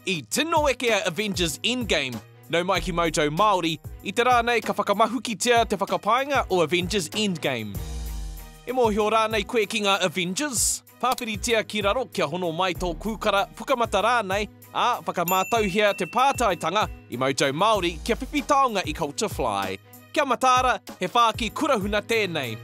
I tino eke a Avengers Endgame, nau mai ki Moto Māori, i te rā nei ka whakamahukitia te whakapaenga o Avengers Endgame. E mōhio rānei koe ki ngā Avengers? Pāwhiritia ki raro kia hono mai tō kūkara, pukamata rānei, ā, whakamātauhia te pātaitanga i Moto Māori kia whiwhi taonga i Culture Fly. Kia mataara, he whāki kurahuna tēnei.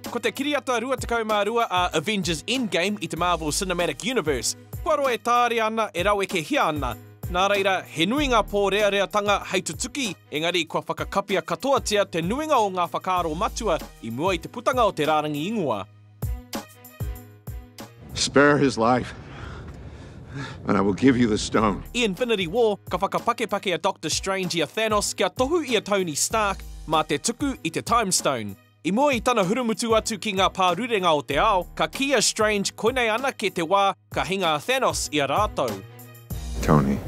Ko te kiriata 22 a Avengers Endgame i te Marvel Cinematic Universe, kua roa e tāria ana, e rawekehia ana. Nā reira, he nui ngā pōreareatanga hei tutuki, engari kua whakakapia katoatia te nuinga o ngā whakaaro matua i mua i te putanga o te rārangi ingoa. Spare his life, and I will give you the stone. I Infinity War, ka whakapakepake a Doctor Strange i a Thanos kia tohu i a Tony Stark mā te tuku i te Time Stone. I mua i tana hurumutu atu ki ngā pārurenga o te ao, ka kī a Strange koinei anake te wā ka hinga a Thanos i a rātou. Tony,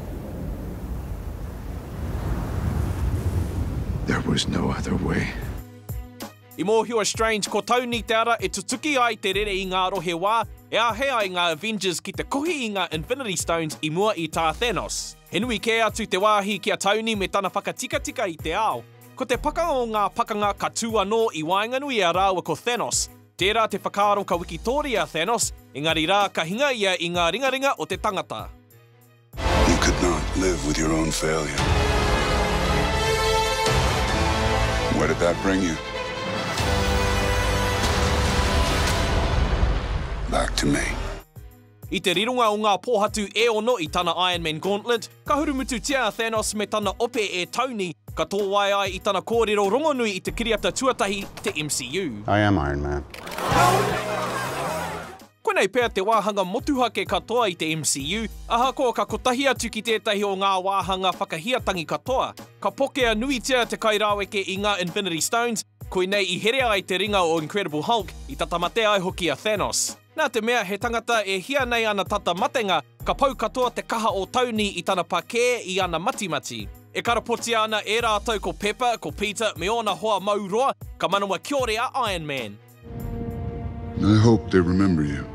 there was no other way. I mōhio a Strange ko Tony te ara e tutuki ai te rere i ngā rohe wā e āhei ai ngā Avengers ki te kohi i ngā Infinity Stones i mua i tā Thanos. He nui kē atu te wāhi ki a Tony me tana whakatikatika i te ao. Ko te pakanga o ngā pakanga ka tū anō i waenganui i a rāua ko Thanos. Tērā te whakaaro ka wikitōria a Thanos, engari rā ka hinga ia i ngā ringaringa o te tangata. You could not live with your own failure. Where did that bring you? Back to me. I te rironga o ngā pōhatu e ono i tana Iron Man Gauntlet, ka hurumututia a Thanos me tana ope e Tony, ka tōwae ai i tana kōrero rongonui i te kiriata tuatahi, te MCU. I am Iron Man. Koinei pea te wāhanga motuhake katoa i te MCU, ahakoa ka kotahi atu ki tētahi o ngā wāhanga whakahiatangi katoa. Ka pokea nuitia te kairaweke i ngā Infinity Stones, koinei i herea ai te ringa o Incredible Hulk, i tata mate ai hoki a Thanos. Nā te mea he tangata e hia nei ana tata matenga, ka pau katoa te kaha o Tony i tana pakē, i ana matimati. E karapotia ana e rātou ko Pepper, ko Peter me ōna hoa mauroa, ka manawa kiore a Iron Man. I hope they remember you.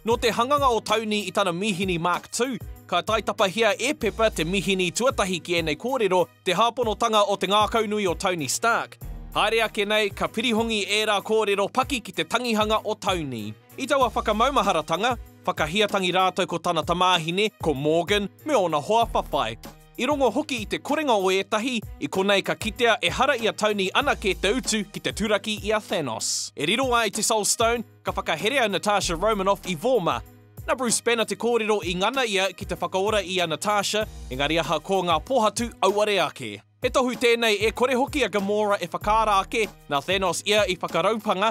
Nō te hanganga o Tauni i tana mīhini Mark Tū, ka taitapahia e Pepper te mīhini tuatahi ki ēnei kōrero, te hāponotanga o te ngākaunui o Tony Stark. Haere ake nei, ka pirihongi ērā kōrero paki ki te tangihanga o Tauni. I taua whakamaumaharatanga, whakahiatangi rātou ko tana tamāhine, ko Morgan, me ōna hoa whawhai. I rongo hoki i te korenga o ētahi, i konei ka kitea ehara i a Tony anake te utu ki te turaki i a Thanos. E riro ai te Soul Stone, ka whakahere a Natasha Romanoff i Vorma. Na Bruce Banner te kōrero i ngana ia ki te whakaora i a Natasha, engari ahakoa ngā pōhatu auare ake. He tohu tēnei e kore hoki a Gamora e whakaara ake, na Thanos ia i whakaraupanga,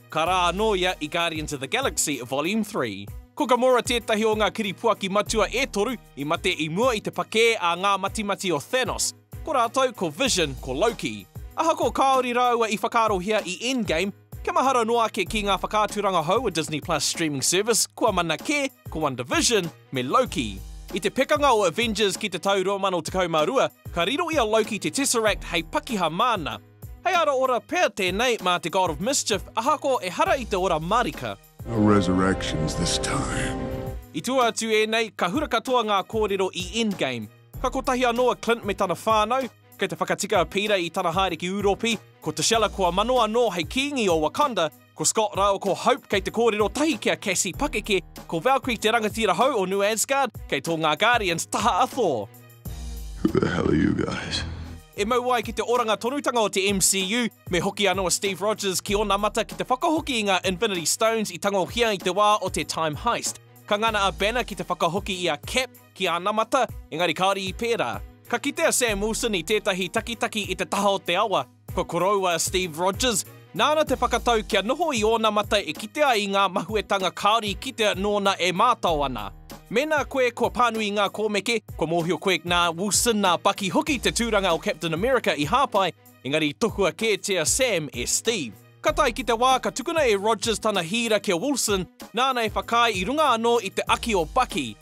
Ka rā anō ia i Guardians of the Galaxy, Volume Three. Ko Gamora tētahi o ngā kiripuaki matua e toru i mate i mua i te pakē a ngā matimati o Thanos. Ko rātou ko Vision, ko Loki. Ahakoa kāore rāua i whakaarohia i Endgame, kia mahara noa ake ki ngā whakaaturanga hou o Disney Plus streaming service kua mana kē, ko WandaVision me Loki. I te pekanga o Avengers ki te tau 2012, ka riro i a Loki te Tesseract hei pakiha māna, Hei ara ora pea tenei ma te God of mischief ahako ehara i te ora marika. No resurrections this time. I tua atu ēnei, ka hura katoa ngā kōrero i Endgame. Ka kotahi anō a Clint me tana whānau, kei te whakatika a Peter i tana haere ki Ūropi, ko T'Challa kua mano anō hei Kīngi o Wakanda, Ko Scott rāua ko Hope kei te kōrero tahi ki a Cassie Pakeke, ko Valkyrie te rangatira hou o New Asgard, kei tō ngā Guardians taha a Thor. Who the hell are you guys? E mau ai ki te oranga tonutanga o te MCU, me hoki anō a Steve Rogers ki ōna mata ki te whakahoki i ngā Infinity Stones i tangohia i te wā o te Time Heist. Ka ngana a Banner ki te whakahoki i a Cap ki āna mata, engari kāore i pērā. Ka kite a Sam Wilson i tētahi takitaki i te taha o te awa, Ko Koroua Steve Rogers, nāna te whakatau kia noho i ōna mata e kitea i ngā mahuetanga kāore i kitea nōna e mātao ana. Mēnā koe kua pānui i ngā kōmeke, kua mōhio koe nā Wilson, nā Bucky hoki te tūranga o Captain America i hāpai, engari i tohua kētia Sam e Steve. Ka tae ki te wā ka tukuna e Rogers tana hīra ki a Wilson, nāna e whakaae i runga anō i te aki o Bucky,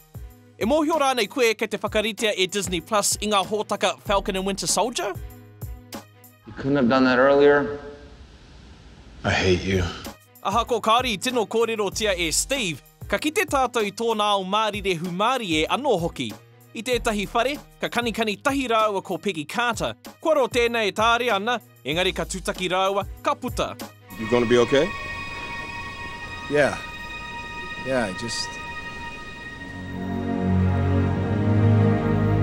E mōhio rānei koe kei te whakaritea e Disney Plus i ngā hōtaka Falcon and Winter Soldier? You couldn't have done that earlier? I hate you. Ahakoa kāore i tino kōrerotia e Steve, ka kite tātou i tōna ao mārire hūmārie anō hoki. I tētahi whare, ka kanikani tahi rāua ko Peggy Carter, kua roa tēnei e tāre ana, Engari ka tutaki rāua, ka puta. You gonna be okay? Yeah. Yeah, I just...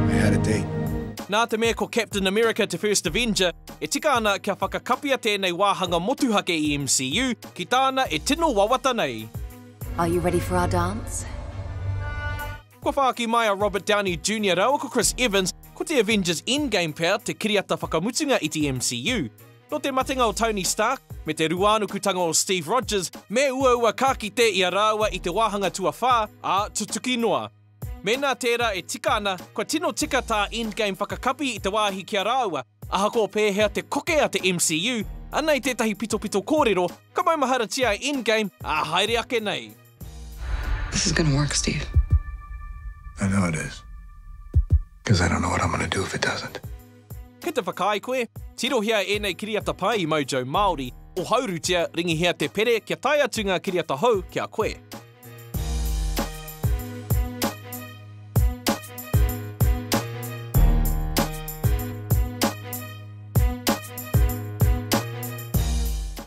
I had a date. Nā te mea ko Captain America te first Avenger, e tika ana kia whakakapia tēnei wāhanga motuhake i MCU ki tāna e tino wawata nei. Are you ready for our dance? Kua whāki mai a Robert Downey Junior rāua ko Chris Evans, ko te Avengers Endgame pea te kiriata whakamutunga i te MCU. Nō te matenga o Tony Stark, me te ruānukutanga o Steve Rogers, me uaua ka kite i a rāua i te wāhanga tuawhā, ā, tutuki noa. Mēnā tērā e tika ana, kua tino tika tā Endgame whakakapi i te wāhi ki a rāua. Ahakoa pēhea te koke a te MCU, anei tētahi pitopito kōrero, ka maumaharatia e Endgame, ā, haere ake nei. This is gonna work, Steve. I know it is. Because I don't know what I'm gonna do if it doesn't. Kei te whakaae koe? Tirohia ēnei kiriata pai i Mojo Māori, ohaurutia, ringihia te pere kia tae atu ngā kiriata hou ki a koe.